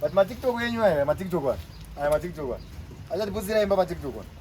But my TikTok yenyu aya, my TikTok aya, my TikTok aya. Acha tiputsira imba pa TikTok aya.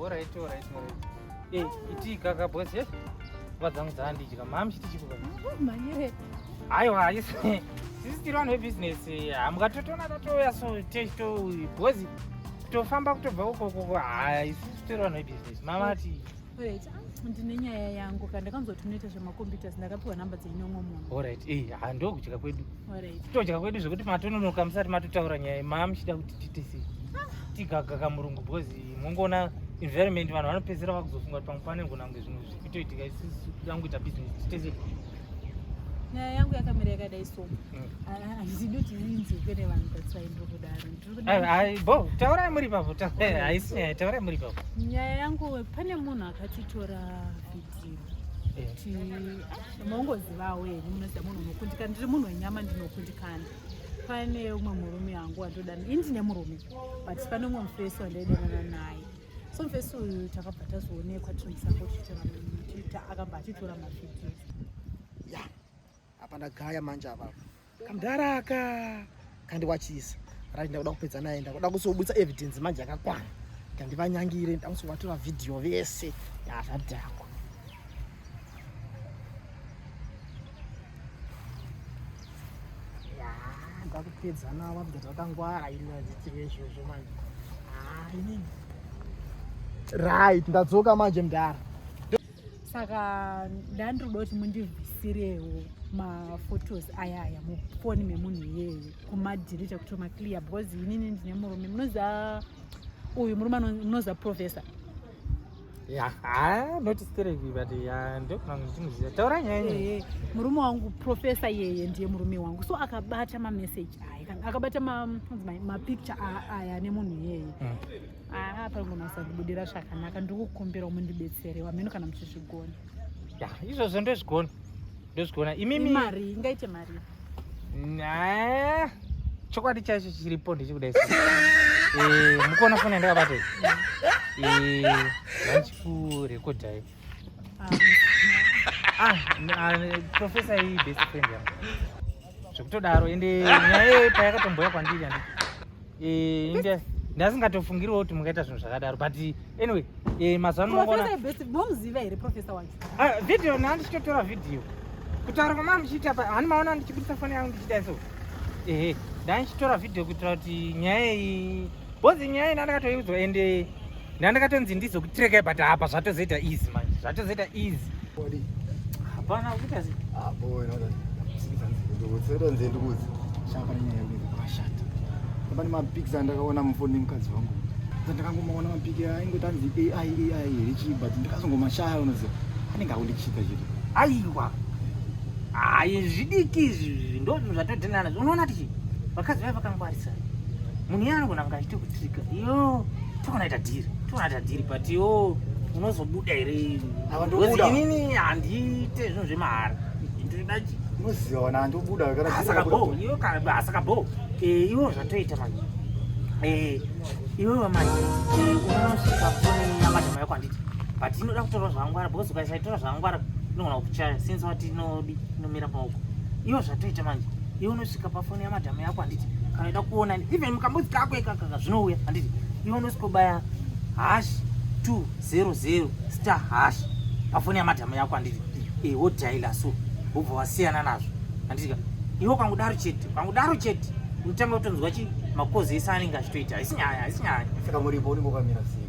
Alright, alright, alright. Eh, iti kaka boss yes. Vadzangu dzandidya. Mami chiti chikuba. Manyire. Aiwa, ayis. Sisi tiri vanhu vebusiness. Hamukatotona tatoya so to boss. Kutofamba kutobva uko uko. Ayis, tiri vanhu vebusiness. Mama ati Alright, ndine nyaya yangu ka ndakanzoti munoita zvemacomputers ndakapiwa nhamba dzenyu umwe munhu. Alright, eh ha ndokudya kwedu. Alright. Todya kwedu zvekuti matononoka musati matotaura nyaya mama muchida kuti tiite sei. Tigaga kamurungu because mungoona environment vanhu vanopedzera vakuzofunga kuti pamwe pane ngona kunge zvinhu zvikutoitika isusu kuda kuita business tiite sei. Nyaya yangu yakamira yakadai so. taurai muri papo haisi nyaya taurai muri papo nyaya yangu pane munhu akatitora vhidhiyo maungozivawo here munoziva munhu unokundikana ndiri munhu wenyama ndinokundikana pane umwe murume wangu wandodana ini ndine murume but pane umwe mufesi wandaidanana naye so mufesi uyu takabva tazoonekwa tinomusango tichitora akabva atitora mavhidhiyo apa ndagaya manje apa kamdara aka kandiwachisa right ndakuda kupedza naye ndakuda kusobudisa evidence manje yakakwana ndandivanyangire ndakusovatora video vese yazvadhakwa ndakupedza navo vabda takangwara ini azitive izvozvo manje hainini right ndadzoka manje mdara saka ndandiri kuda kuti mundivhisirewo maphotos aya aya mufoni memunhu iyeye kumadhirita kuti maclear because inini ndine murume munoziva uyu murume munoziva professor murume wangu profesa yeye ndiye murume wangu so akabata mameseji aya akabata mapicture aya nemunhu iyeye mm. aa pari kunasa kubudira zvakanaka ndiri kukumbira mundibetsere wamheno kana muchizvigona ya izvozvo ndozvigona ndozvigona imimi mari ingaite mari chokwadi chaicho chiripo ndichikuda isu eh, mukuona foni yandakabatei eh, vachikurekodhai Ah, ah, professor iyi best friend yangu zvekutodaro ende nyaya iyoyo payakatomboya kwandiri andi eh, ndasingatofungiriwo kuti mungaita zvinhu zvakadaro but anyway eh, mazuva anomomuziva here professor wacho ah, video naa ndichitotora video kutaura kwamaa ndichiita pa hani maona ndichibudisa foni yangu ndichiita so ehe ndaa ndichitora video kuitira kuti nyaya iyi Bozi nyaya ina ndakatoiudzwa ende ndandakatonzi ndizokutireka ibata apa zvatozoita easy manje zvatozoita easy hapana kuita zi apo ah, inoda ndikutonzi ndikuzi shapa nyaya yekuti kwashata pane mapics andakaona mufoni nemukadzi wangu ndandakangomaona mapic aingoita anzi ai ai here chii but ndikazongomashaya unoziva anenge akundichita chete aiwa hayi zvidiki izvi ndozvo zvatodhenana unoona tichi vakadzi vaya vakangwarisa Munhu iye anogona kunge achiita kutrika iyo tonaita dhiri tonaita dhiri but yo unozobuda here inini handiite zvinhu zvemahara ndiridachi unoziva wana handobuda asaka bo eh, iwo zvatoita manje eh, iwewe manje eh, unosvika foni yamadama yako handiti but inoda kutorwa zvangwara because ukaisatora zvangwara inogona kukuchaya since wati inodi nomira paoko iwo zvatoita manje iwe unosvika pafoni yamadhamu yako handiti kana ida kuona even mukambudzi kako ikakaka zvinouya handiti iwe unosvikobaya hash 200 star hash pafoni yamadhamu yako handiti e eh, wodhaila so wobva wasiyana nazvo handitika iwe ukangudaro chete ukangudaro chete unotanga kutonzwa chi makozi ese anenge achitoita haisi nyaya haisi nyaya saka muripo unenge wakamira sei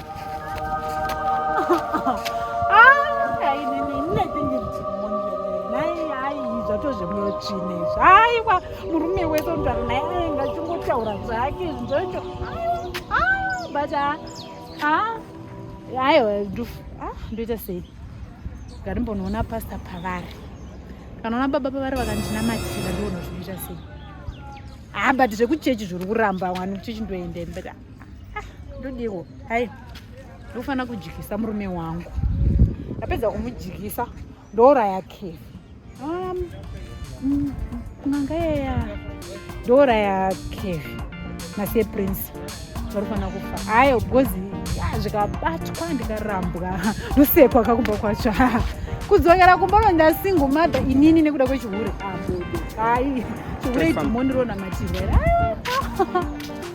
aiwa murume wese unogara naye aenga achingotaura zvake zvinzocho but ah, ah, aiwa ah, ndoita sei ngarimbonoona pasta pavari kanaona baba pavari vakandinamatira ndiona zvinoita sei ha but zvekuchechi zviri kuramba wani kuchechi ndoendembera Ah, ndodiwo hai ndofanira kudyisa murume wangu ndapedza kumudyisa ndouraya kefi um, mm, kunanga yeya ndouraya kefi naseprince varufanira kufa hayo because zvikabatwa ndikarambwa ndosekwa kakubva kwacho kudzokera kumba vandasingo mada inini nekuda kwechihure amudo ah, hai chihure idhimoni ronamatirwera